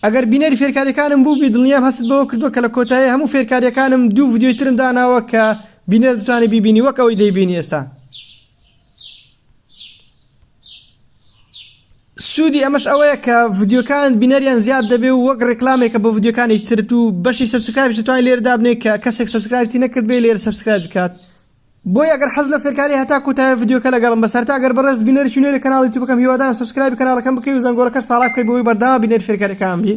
ئەگەر بینەری فێرکاریەکانم بووبی دڵنیام هەستت بەوە کردووە کە لە کۆتایی هەموو فێرکاریەکانم دوو ڤیدیۆی ترم داناوە کە بینەر دەتوانێت بیبینی وەک ئەوەی دەیبینی ئێستا سوودی ئەمەش ئەوەیە کە ڤیدیۆکان بینەریان زیاد دەبێ و وەک ڕێکلامێکە بۆ ڤیدیۆکانی ترت و بەشی سبسکرایبش توانین لێرە دابنێ کە کەسێک سبسکرایبی نەکردبێ لێرە سبسکرایب بکات بۆیە ئەگەر حەز لە فێرکاریە هەتا کۆتایی ڤیدیۆکە لەگەڵم بە سەرتا گەر بەڕێز بینەرێکی نوێی کەناڵ یوتیوبەکەم هیوادارم سەبسکرایبی کەناڵەکەم بکەی و زەنگۆڵەکەش ساڵا بکەی بۆی بەردەوام بینەر فێرکاریەکان بی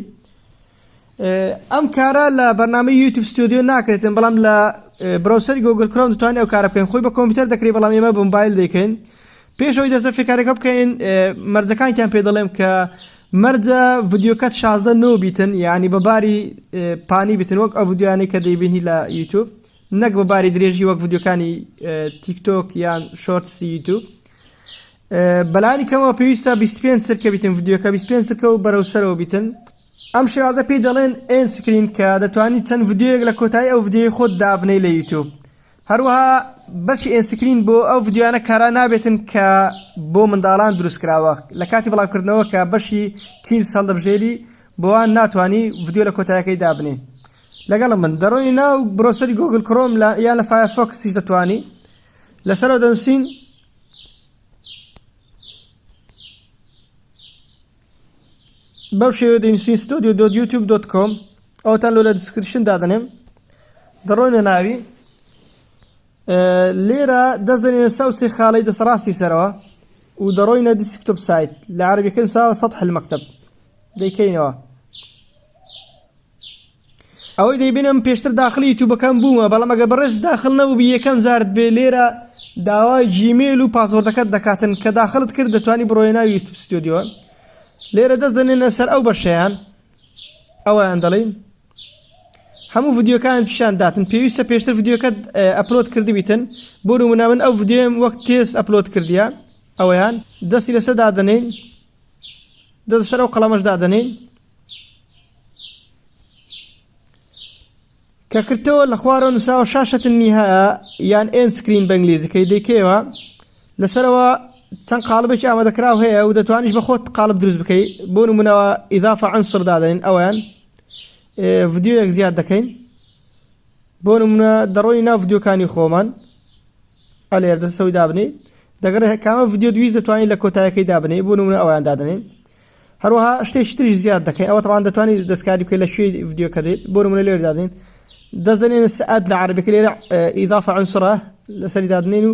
ئەم کارە لە بەرنامەی یوتیوب ستۆدیۆ ناکرێتن بەڵام لە برۆسەری گۆگل کرۆم دەتوانێت ئەو کارە بکەین خۆی بە کۆمپیوتەر دەکرێت بەڵام ئێمە بە موبایل دەکەین پێشەوەی دەست بە فێرکارەکە بکەین مەرجەکانتیان پێ دەڵێم کە مەرجە ڤیدیۆکەت شازدە نۆ بیتن یعنی بەباری پانی بتن وەک ئەو ڤیددیوانەی کە دەیبینی لە یوتیوب نەک بە باری درێژی وەک ڤیدیۆکانی تیک تۆک یان شۆرتسی یوتیوب بەلانی کەمەوە پێویستە 25 سرکە بیتن ڤیدیۆکە 25 سرکە و بەرەو سەرەوە بیتن ئەم شێوازە پێی دەڵێن ئێن سکرین کە دەتوانانی چەند ڤیدیۆیەک لە کۆتایی ئەو ڤیدیۆی خۆت دابنەی لە یوتیوب هەروەها بەشی ئێن سکرین بۆ ئەو ڤیدیۆیانە کارا نابێتن کە بۆ منداڵان دروست کراوە لە کاتی بڵاوکردنەوە کە بەشی کیلز هەڵدەبژێری بۆوان ناتوانانی ڤیدیۆ لە کۆتایەکەی دابنێ لەگەڵم بن دەڕۆی ناو برۆسەری گۆگل کرۆم لە یا لە فایەرفۆکسیش دەتوانی لەسەرەوە دەنووسین بەو شێوە دەنووسین ستۆدیو دۆت یوتیوب دۆت کۆم ئەوتان لۆ لە دیسکرشن دادەنێم دەڕۆینە ناوی لێرە دەست دەنێنە سەو سێ خالەی دەست ڕاستی سەرەوە و دەڕۆینە دیسکتۆپ سایت لە عربیەکە نووساوە سەد حلمەکتب دەیکەینەوە ئەوەی دەیبینم پێشتر داخلی یوتوبەکان بوومە بەڵام ئەگە بەڕێز داخل نەبووبی یەکەم زارت بێ لێرە داوای جیمێل و پاسۆردەکەت دەکاتن کە داخلت کرد دەتوانی بڕۆێ ناوی یوتوب ستۆدیۆ لێرە دەزنێنە سەر ئەو بەشیان ئەویان دەڵین هەموو ڤیدیۆکانت پیشان داتن پێویستە پێشتر ڤیدیۆکەت ئەپلۆد کردبیتن بۆ نمونە من ئەو ڤیدیۆم وەک تێست ئەپلۆد کردیە ئەویان دەستی لەسەر دادەنین دەست سەر ئەو قەڵەمەش دادەنین کە کردەوە لە خوارەوە نووسراوە شاشەتن نیها یان ئێن سکرین بەنگلیزیکەی دەیکەوە لەسەرەوە چەند قالبێکی ئامادەکراو هەیە و دەتوانیش بە خۆت قالب دروست بکەیت بۆ نمونەوە ئیدافە ئەنسڕ دادەین ئەویان ڤیدیۆیەک زیاد دەکەین بۆ نمونە دەڕۆی ناو ڤیدیۆکانی خۆمان ئەلێر دەسەوەی دابنی دەگەڕێ کامە ڤیدیۆ دوی دەتوانین لە کۆتایەکەی دابنی بۆ نمونە ئەویان دادنین هەروەها شتێکی تری زیاد دەکەین ئەوە تەوان دەتوانانی دەستکاری بکە لە کوێ ڤیددیوکە دێت بۆ منە لێر دادین دەزانێن سعات لە عربێک لێرە ئیدافە ئەنسرە لەسەری دادنین و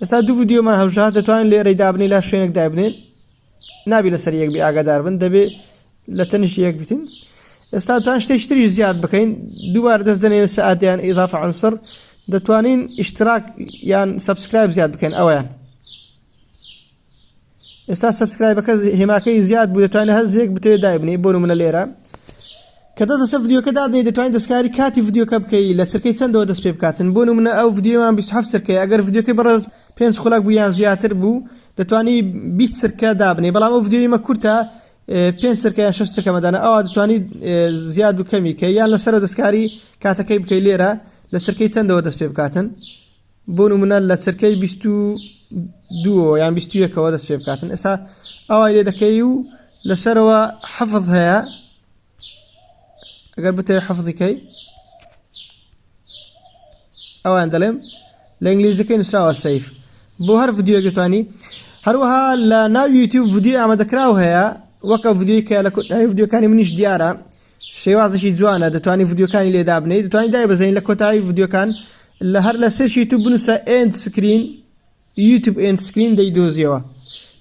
ئێستا دوو ڤیدیۆمان هەبژا دەتوانین لێرەی دابنی لا شوێنێک دابنێن نابی لەسەر یەک بی ئاگادار بن دەبێ لە تەنیش یەک بتین ئێستا توان شتێک تری زیاد بکەین دووبار دەست دەنێن سعاتیان ئیضافە عنسر دەتوانین ئیشتراک یان سبسکرایب زیاد بکەن ئەویان ئێستا سبسکرایبەکە هێماکەی زیاد بوو دەتوانێت هەر زێک بتێ دایبنی بۆ منە لێرە کە دەست لەسەر ڤیددیوکە دادەی دەتوانین دەستکاری کاتی ڤیددیوکە بکەی لە چرکەی چەندەوە دەست پێ بکاتن بۆ منە ئەو ڤیددیومان 27 چرکەی ئەگەر ڤیددیوکەی بەڕێز پێنج خولک بوو یان زیاتر بوو دەتوانی 20 چرکە دابنی بەڵام ئەو ڤیددیویمە کورتە پێنج سەرکە یان شش سەکەمەدانە ئەوە دەتوانانی زیاد و کەمی کە یان لەسەر دەستکاری کاتەکەی بکەی لێرە لە سەرکەی چەندەوە دەست پێ بکاتن بۆ نمونە لە چرکەی بیست و دووەوە یان بیست و یەکەوە دەست پێ بکاتن ئێستا ئەوای لێ دەکەی و لەسەرەوە حەفظ هەیە ئەگەر بتێ حەفظیکەی ئەوان دەڵێم لە ئینگلیزیەکەی نووسراوە سیف بۆ هەر ڤیددیوگەتوانی هەروەها لە ناو یوتیوب ڤیددیو ئامادەکراو هەیە وەکە ڤیددیوی کە لە کۆتایی ڤیددیوکانی منیش دیارە شێوازێکی جوانە دەتوانی ڤیدیۆکانی لێ دابنێی دەتوانانی دایبەزین لە کۆتایی ڤیدیۆکان لە هەر لە سێرچ یوتیوب بنووسە ئێند سکرین یوتیوب ئێند سکرین دەیدۆزیەوە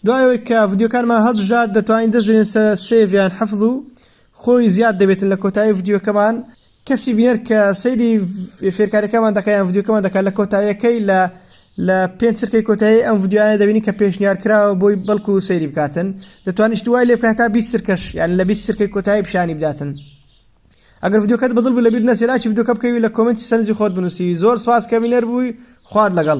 دوایەوەی کە ڤیدیۆکانمان هەڵبژار دەتوانین دەست بێن سە سێڤیان حەفظ و خۆی زیاد دەبێتن لە کۆتایی ڤیدیۆکەمان کەسی بینەر کە سەیری فێرکاریەکەمان دەکەیان ڤیدیۆکەمان دەکات لە کۆتاییەکەی لە لە پێنج چرکەی کۆتایی ئەم ڤیدیۆیانە دەبینین کە پێشنیار کراوە بۆی بەڵکو سەیری بکاتن دەتوانیشت وای لێ بکە هەتا بیست چرکەش یان لە بیست چرکەی کۆتایی پیشانی بداتن ئەگەر ڤیدیۆکەت بەدڵ بوو لەبیر نەچێ لایکی ڤیدیۆکە بکەوی لە کۆمێنتی سەرنجی خۆت بنووسی زۆر سپاس کە بینەر بووی خوات لەگەڵ